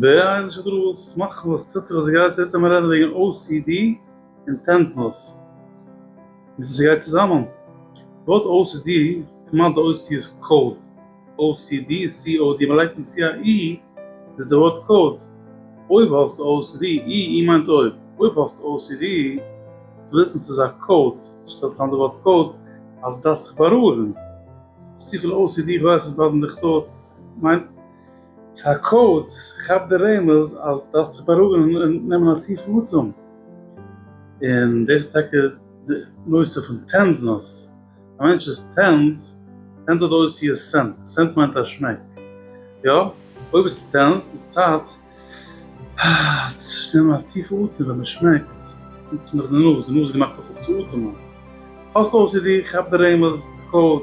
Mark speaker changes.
Speaker 1: די אידישע סדרות מאכן וואס טוט זיך אז סגייט זיך יעצט רעדן וועגן ocd און טענצנוס מיט סגייט צוזאמען ווארט ocd כמעט די אותיות איז קאוד ocd איז סי או די מלייגט און צו א אי איז די ווארט קאוד אויב האסט ocd אי אי מיינט אויב אויב האסט ocd וועסטו וויסן סאיז א קאוד שטעל צאם די ווארט קאוד אז דארפסט זיך בארואיגן האסט צופיל ocd כווייס נישט באדן דיך דאס מיינט ס'האקוט, ס'כאפט די רעמז אז דארפסט זיך בארואיגן און נעמען א טיפן אטעם. און דאס איז טאקע די נושא פון טענזנעס. א מענטש איז טענז, טענז האט אויס צו עס סענט, סענט מיינט א שמעק. יא, אויב ביסטו טענז איז צייט צו נעמען א טיפן אטעם ווען מען שמעקט, נוצט מען דאך די נאז, די נאז איז געמאכט אויך אפצואטעמען. האסט ocd? כאפ די רעמז, די קאוד.